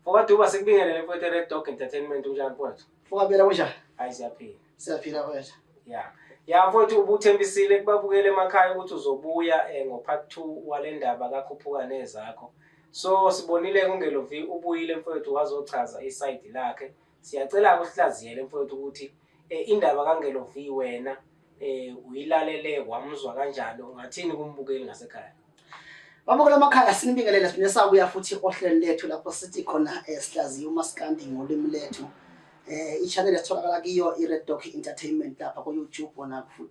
Mfokaduba sikubingelele mfowethu eRed Dog Entertainment unjani mfowethu? Mfokabela kunjani? Hayi siyaphila. Siyaphila mfowethu. Ya. Ya mfowethu ubuthembisile kubabukele emakhaya ukuthi uzobuya eh, ngo-part two wale ndaba kakhuphuka nezakho. So sibonile kungelovi ubuyile mfowethu wazochaza isayidi lakhe Siyacela-ke usihlaziyele mfowethu ukuthi um indaba kaNgelo V wena um uyilalele wamuzwa kanjani ungathini kumbukeli ngasekhaya Babukela amakhaya sinibingelele siphinde sabuya futhi ohlelo lethu lapho sithi khona eh, sihlaziya umaskandi ngolimi lethu. Eh i-channel esitholakala kiyo i-Red Dog Entertainment lapha ku-YouTube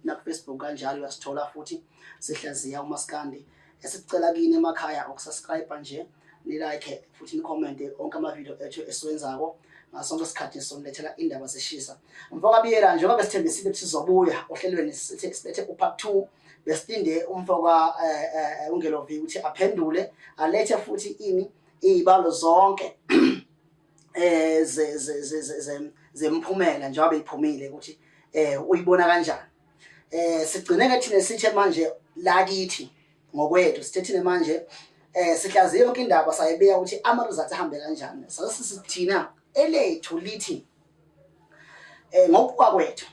nakufacebook kanjalo uyasithola futhi sihlaziya umaskandi. Esicela kini emakhaya ukusubscribe nje nilike futhi nikhomente onke amavidiyo ethu esiwenzako ngasonke isikhathi sonilethela indaba zishisa mfokabiyela njengoba besithembisile ukuthi sizobuya ohlelweni silethe upart two besilinde umfoka um eh, eh, eh, ungelovi ukuthi aphendule alethe futhi ini iy'balo zonke um zemphumela njengoba beyiphumile ukuthi um uyibona kanjani um sigcine-ke thina sithe manje lakithi ngokwethu sithethile manje eh sihlaziye yonke indaba sayibeka ukuthi ama-results ahambe kanjani sasisithina elethu lithi eh ngokuwa kwethu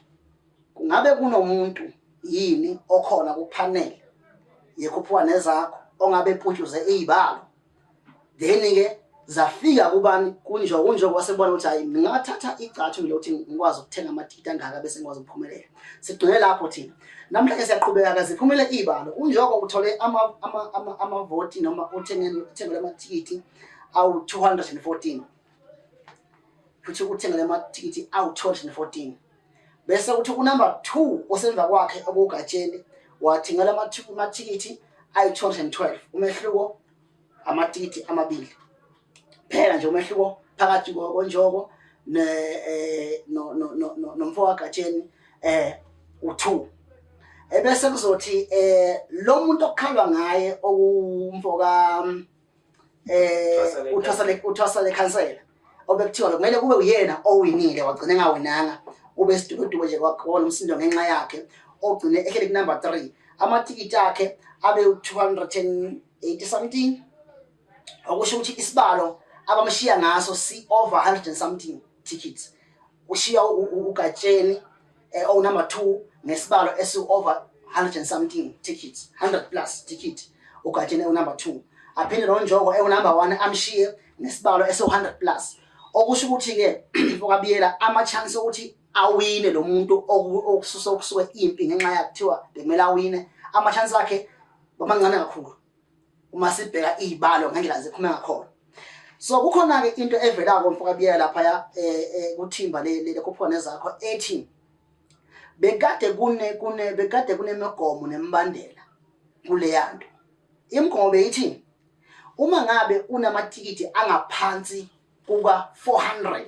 kungabe kunomuntu yini okhona kuphanele yekhuphuka nezakho ongabe eputshuze izibalo then ke zafika kubani kunjo kunjo kwase bona ukuthi hayi ngingathatha igcathu mina ukuthi ngikwazi ukuthenga amadidi angaka bese ngikwazi ukuphumelela sigcine lapho thina namhlanje siyaqhubeka kaze phumele ibalo kunjoko uthole ama ama ama amavoti noma uthengele uthengele amathikithi awu 214 futhi uthengele amathikithi awu 214 bese kuthi kunumber 2 osemva kwakhe okugatsheni wathingela amathikithi ayi-212 umehluko amathikithi amabili phela nje umehluko phakathi konjoko eh, nomfo wagatsheni eh u2 ebese kuzothi eh lo muntu okukhalwa ngaye okumfoka eh uthwasa le uthwasa le khansela obekuthiwa kumele kube uyena owinile wagcina engawinanga ube sidukuduku nje kwakhona umsindo ngenxa yakhe ogcine ehlele kunumber 3 amathikithi akhe abe u280 something okusho ukuthi isibalo abamshiya ngaso si over 100 something tickets ushiya ugatsheni eh, owu number two ngesibalo esi-over 100 and something tickets 100 plus ticket ugatsheni ewu-number two aphinde nonjoko ewu-number one amshiye ngesibalo esiwu-100 plus okusho ukuthi-ke okabiyela ama-chance okuthi awine lo muntu okususa okusuke impi ngenxa yakuthiwa bekumele awine ama-chance akhe bamancane kakhulu uma sibheka izibalo ngendlela ziphuma ngakhona so kukhona ke into evela ko mfoka biyela lapha ya eh, eh, kuthimba le le kuphone zakho ethi bekade kune kune bekade kunemigomo nembandela kuleyanto imigomo beyithi uma ngabe unamatikiti angaphansi kuka 400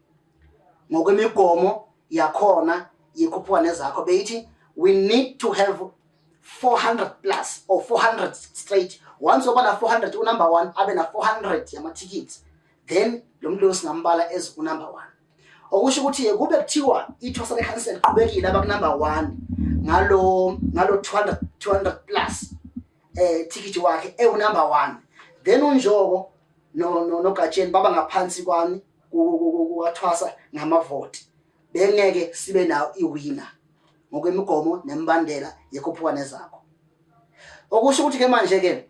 ngokwemigomo yakhona yekhuphuka nezakho beyithi we need to have 400 plus or 400 straight once oba na 400 unumber one abe na 400 yamathikithi then lo muntu loyo singambala as unumber one okusho ukuthi kube kuthiwa ithosa lekhansela liqhubekile abakunumber one ngalo ngalo 200 200 plus eh ticket wakhe ewunumber one then unjoko no no nogatsheni baba ngaphansi kwami kuwathwasa ngamavoti bengeke sibe nawo iwina ngokwemigomo nemibandela yekhuphuka nezakho okusho ukuthi ke manje ke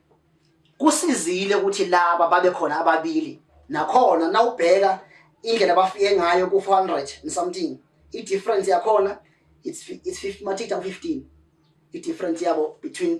kusizile ukuthi laba babe khona ababili nakhona nawubheka indlela abafike ngayo ku 400 and something i difference yakhona it's it's 50 matita 15 i difference yabo between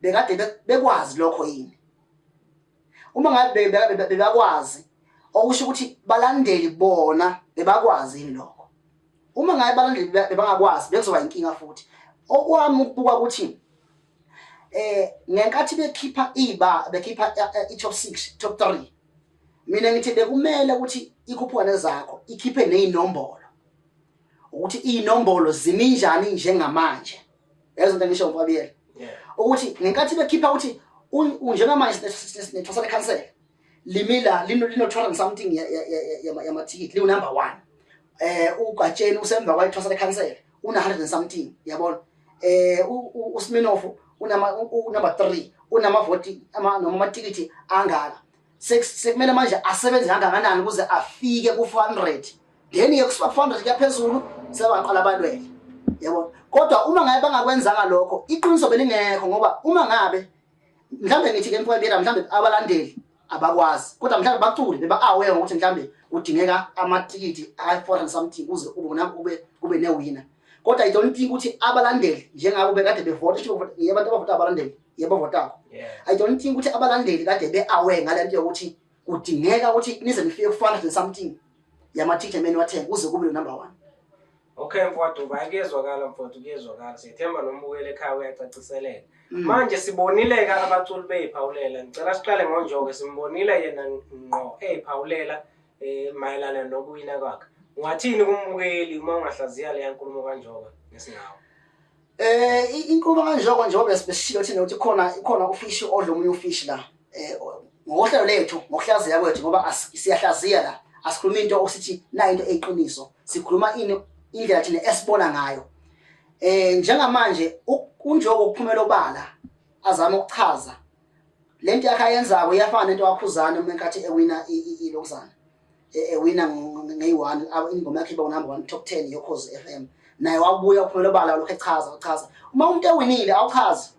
bekade be- bekwazi lokho yini uma ngabe be- be- be- bebakwazi okusho ukuthi balandeli bona bebakwazi yini lokho uma ngabe balandeli be- bebangakwazi bekuzoba inkinga futhi okwami ukubuka ukuthi eh ngenkathi bekhipha iba bekhipha eh, eh, i-top 6 top 3 mina ngithi bekumele ukuthi ikhuphukane zakho ikhiphe nezinombolo ukuthi inombolo ziminjani njengamanje yazi into engisho ukwabiyela ukuthi ngenkathi bekhipha ukuthi njengamanje sinethwasa lekhansela limila lino-200 something yamathikithi liwunumber one eh ugatsheni usemva kwayithwasa lekhansela una-100 something yabona eh usminofu unama unumber 3 unamavoti noma amatikiti angaka sekumele manje asebenze kangakanani ukuze afike ku-400 then ke kusa-400 kuyaphezulu sebaqala balwele yabo kodwa uma ngabe bangakwenzanga lokho iqiniso belingekho ngoba uma ngabe mhlawumbe ngithi ke mfowethu mhlawumbe abalandeli abakwazi kodwa mhlawumbe bacule beba-aware ngokuthi mhlawumbe kudingeka amathikithi a-foreign something kuze kube newina kodwa i don't think ukuthi abalandeli njengabo bekade bevota abantu abavota abalandeli yebo votango i don't think ukuthi abalandeli kade be-aware ngale nto yokuthi kudingeka ukuthi nize nifike kufana nje something yama-teacher meni wathenga kuze kube lo number one okay mfowethu uba kuyezwakala mfowethu kuyezwakala siyethemba nombukeli ekhaya uyacaciseleka mm. manje sibonile-ke abaculi beyiphawulela ngicela siqale ngonjoke simbonile yena ngqo eyiphawulela um mayelana nokuwina kwakhe ungathini kumbukeli uma ungahlaziya leya nkulumo kanjoka ngesingawo Eh inkulumo kanjoko njengoba besishilo thina ukuthi khona khona ufishi odla omunye ufishi la. Eh ngohlelo lethu ngokuhlaziya kwethu ngoba siyahlaziya la. Asikhulumi into osithi na into eyiqiniso. Sikhuluma ini indlela thina esibona ngayo. Eh njengamanje unjoko ukuphumela obala azama ukuchaza lento yakhe ayenzako iyafana nento wakhuzana uma enkathi ewina ilokuzana. ewina ngeyi-one ingoma yakhe iba unumber one top ten yokhozi f m naye wabuya uphumela obala lokhu echaza uchaza uma umuntu ewinile awuchazi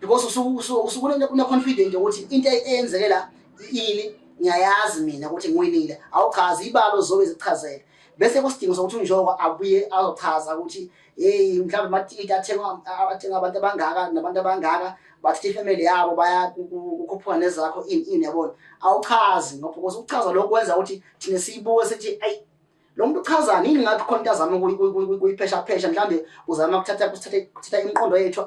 because usukuneconfident yokuthi into eyenzeke la ini ngiyayazi mina ukuthi ngiwinile awuchazi ibalo zobe zichazele bese kusidingo sokuthi unjoko abuye azochaza ukuthi hey mhlawumbe amatikiti athengwa athengwa abantu abangaka nabantu abangaka bathi ifamily yabo baya kukhuphuka nezakho ini ini yabona awuchazi ngoba because ukuchaza lokho kwenza ukuthi thina siyibuke sithi ayi lo muntu uchazani yini ngathi khona into azama kuyiphesha phesha mhlawumbe uzama kuthatha kuthatha kuthatha imiqondo yethu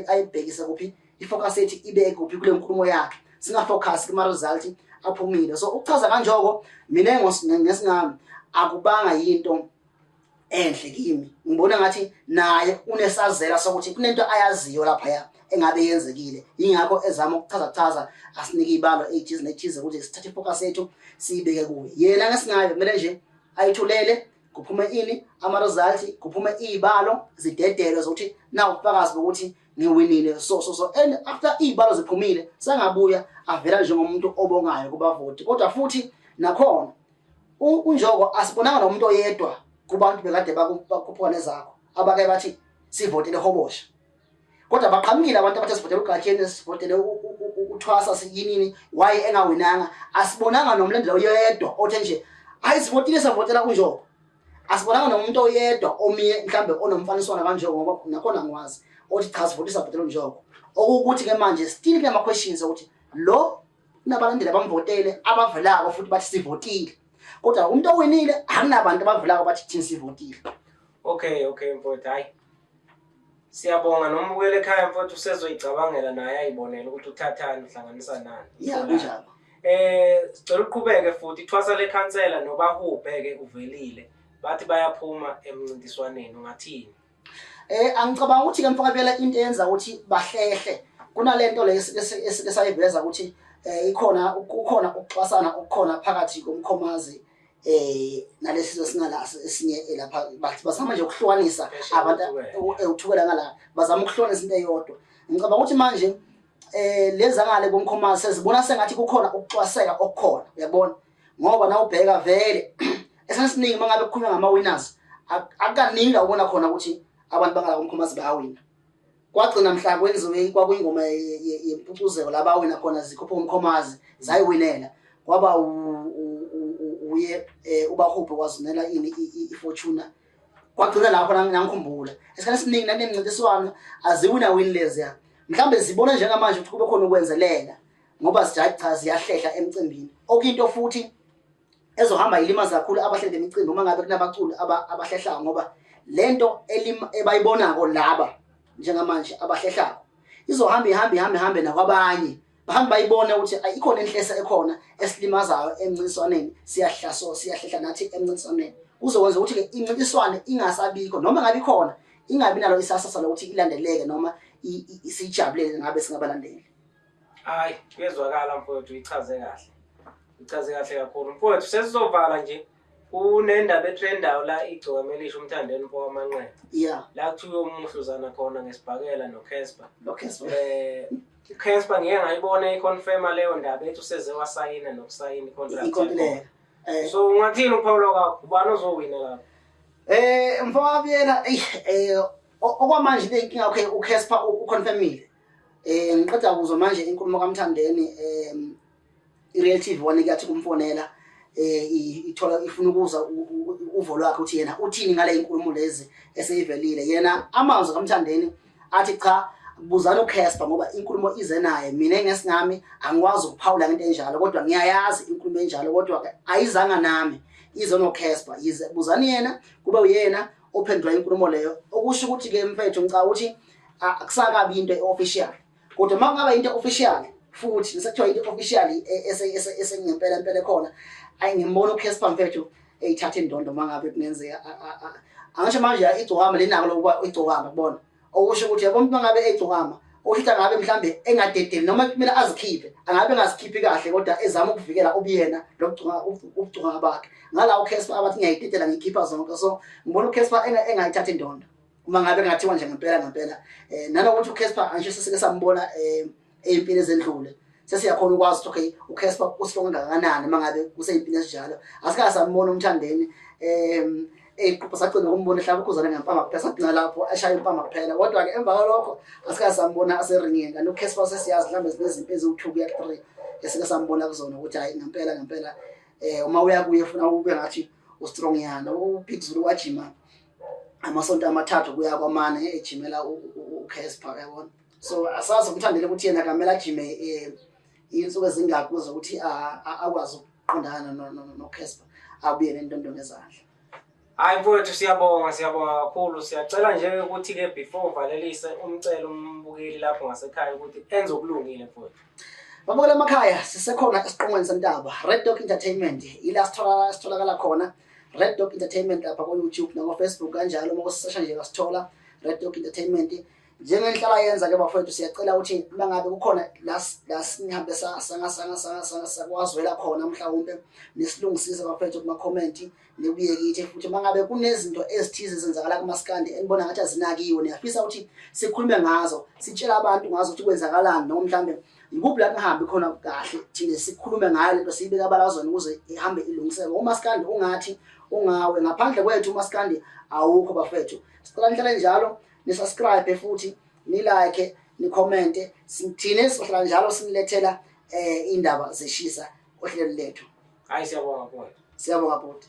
ayibhekise kuphi ifocus yethu ibe kuphi kule nkulumo yakhe singafocus kuma result aphumile so ukuchaza kanjoko mina ngesingami akubanga yinto enhle kimi ngibona ngathi naye unesazela sokuthi kunento ayaziyo lapha ya engabe yenzekile ingakho ezama ukuchaza chaza asinike ibalo ejizi nejizi ukuthi sithathe focus yethu siyibeke kuye yena ngesinayo kumele nje ayithulele kuphume ini ama results kuphume izibalo zidedelo zokuthi nawu fakazi ukuthi ngiwinile so so so and after izibalo ziphumile sengabuya avela njengomuntu obongayo kubavoti kodwa futhi nakhona unjoko asibonanga nomuntu oyedwa kubantu bekade bakuphuphuka nezakho abake bathi sivotele hobosha kodwa baqhamukile abantu abathe sivotele ugatsheni sivotele uthwasa siyinini waye engawinanga asibonanga nomlandela oyedwa othe nje hayi sivotile savotela unjoko asibonanga nomuntu oyedwa omiye mhlambe onomfaniswana kanjoko ngoba nakhona ngiwazi othi cha sivotisa bhetela unjoko okukuthi ke manje still kunama questions ukuthi lo Kunabalandeli abamvotele abavelako futhi bathi sivotile. Kodwa umuntu owinile akunabantu abavelako bathi thina sivotile. Okay, okay mfowethu hayi. Siyabonga noma ubuyele ekhaya mfowethu usezoyicabangela naye ayibonele ukuthi uthathani uhlanganisa nani. Yeah, kunjalo. Eh sicela uqhubeke futhi ithwasa lekhansela nobahubhe ke uvelile bathi bayaphuma emncintiswaneni ungathini. Eh angicabanga ukuthi ke mfakabela into eyenza ukuthi bahlehle kunalento le esike sayiveza ukuthi eh ikhona kukhona ukuxwasana okukhona phakathi komkhomazi eh nalesi sesingala esinye eh, lapha bathi basama nje ukuhlukanisa abantu ewuthukela eh, ngala bazama ukuhlukanisa into eyodwa ngicabanga ukuthi manje eh lezangale komkhomazi sezibona sengathi kukhona ukuxwaseka okukhona uyabona ngoba nawubheka vele esasiningi mangabe kukhulunywa ngama winners akukaningi la ubona khona ukuthi abantu bangala komkhomazi bayawina kwagcina mhla kwenziwe kwakuyingoma yempucuzeko la bawina khona zikhuphe umkhomazi zayiwinela kwaba uye eh, ubahubhe wazunela ini ifortuna kwagcina lapho nangikhumbula esikhathi esiningi nanemncintiswano aziwina wini leziya mhlawumbe zibona njengamanje ukuthi kube khona ukwenzelela ngoba sijayi cha ziyahlehla emcimbini okuyinto futhi ezohamba ilimaza kakhulu abahleli bemicimbi uma ngabe kunabaculi abahlehlayo ngoba le nto ebayibonako laba njengamanje abahlehlako izohamba ihambe ihambe ihambe nakwabanye bahambe bayibone ukuthi ikhona inhlesa ekhona esilimazayo emncintiswaneni siyahlaso siyahlehla nathi emncintiswaneni kuzokwenza ukuthi-ke incintiswane ingasabikho noma ngabe ikhona ingabi nalo isasasa lokuthi ilandeleke noma siyijabulele ngabe singabalandeli hayi kuyezwakala mfowethu uyichaze kahle uyichaze kahle kakhulu mfowethu sesizovala nje kunendaba etrendayo la igcoka melisha umthandeni mfo wamanqeba yeah la kuthiwa umuhluzana khona ngesibhakela nocasper nocasper um eh, casper ngike ngayibona iconfirma leyo ndaba ethi useze wasayina nokusayina icontract eh. so ungathini uphawula kwakho ubani ozowina lapho Eh mfowabiyela eh, eh okwamanje le inkinga yakhe uCasper uconfirmile. Eh ngiqeda kuzwa manje inkulumo kaMthandeni eh iReal TV one kuyathi kumfonela eh ithola ifuna ukuza uvo lwakhe ukuthi yena uthini ngale inkulumo lezi eseyivelile yena amazwi kaMthandeni athi cha buzana uCasper ngoba inkulumo ize naye mina ngesingami angikwazi ukuphawula into enjalo kodwa ngiyayazi inkulumo enjalo kodwa ayizanga nami ize noCasper yize buzani yena kube uyena ophendula inkulumo leyo okusho ukuthi ke mfethu ngicabanga ukuthi akusakabi into eofficial kodwa makungaba into official futhi sekuthiwa into official esengempela impela khona ayingimbona uCasper mfethu eyithatha indondo mangabe kungenzeka angisho manje igcokama lenako lokuba igcokama kubona okusho ukuthi yabo umuntu mangabe egcokama oshitha ngabe mhlambe engadedeli noma kumele azikhiphe angabe engazikhiphi kahle kodwa ezama ukuvikela ubuyena lokugcina ubugcina bakhe ngala uCasper abathi ngiyayidedela ngikhipha zonke so ngibona uCasper engayithatha indondo uma ngabe kungathiwa nje ngempela ngempela um nanokuthi ucasper angisho sesike sambona um eh, ey'mpini ezendlule sesiyakhona ukwazi ukuthi okay ucasper usilonga kangakanani uma ngabe kusey'mpini ezinjalo asikaze sambona umthandeni um eyiqupha sagcina ukumbona ehlaba ukhuzane ngempama kuphela sagcina lapho ashaya impama kuphela kodwa-ke emva kwalokho asikaze sambona aseringini kanti ucasper sesiyazi mhlawumbe zinezimpi eziwu-two kuya three esike sambona kuzona ukuthi hhayi ngempela ngempela um uma uya kuye funa ube ngathi ustrong yana upitzulu wajima amasonto amathathu kuya kwamane ejimela uCasper yabona so asazi umthandele ukuthi yena kamela ajime eh, insuku ezingaki kuze ukuthi akwazi ukuqondana noCasper abuye nentondo ngezandla hayi mfowethu siyabonga siyabonga kakhulu siyacela nje ukuthi ke before uvalelise umcelo umbukeli lapho ngasekhaya ukuthi enze okulungile mfowethu babukela emakhaya sisekhona esiqongweni sentaba red dog entertainment ila sitholakala khona Red Dog Entertainment lapha ko YouTube nako Facebook kanjalo uma kusesha nje ngasithola Red Dog Entertainment njengenhlala yenza ke bafowethu siyacela ukuthi uma ngabe kukhona lasinihambe sakwazwela khona mhlawumbe nisilungisise bafowethu kuma-comment nibuye kithi futhi uma ngabe kunezinto ezithize ezenzakala kumasikandi enibona ngathi azinakiwe niyafisa ukuthi sikhulume ngazo sitshele abantu ngazo ukuthi kwenzakalani noma mhlawumbe Yikuphi la kungahambi khona kahle thina sikhulume ngayo lento siyibeka abalazweni ukuze ihambe ilungiseke. Umaskandi ungathi ungawe ngaphandle kwethu umaskandi awukho bafethu. Sicela nihlale njalo ni subscribe futhi ni like ni comment sithine sihlala njalo sinilethela eh indaba zeshisa ohlelo lethu. Hayi siyabonga bhuti. Siyabonga bhuti.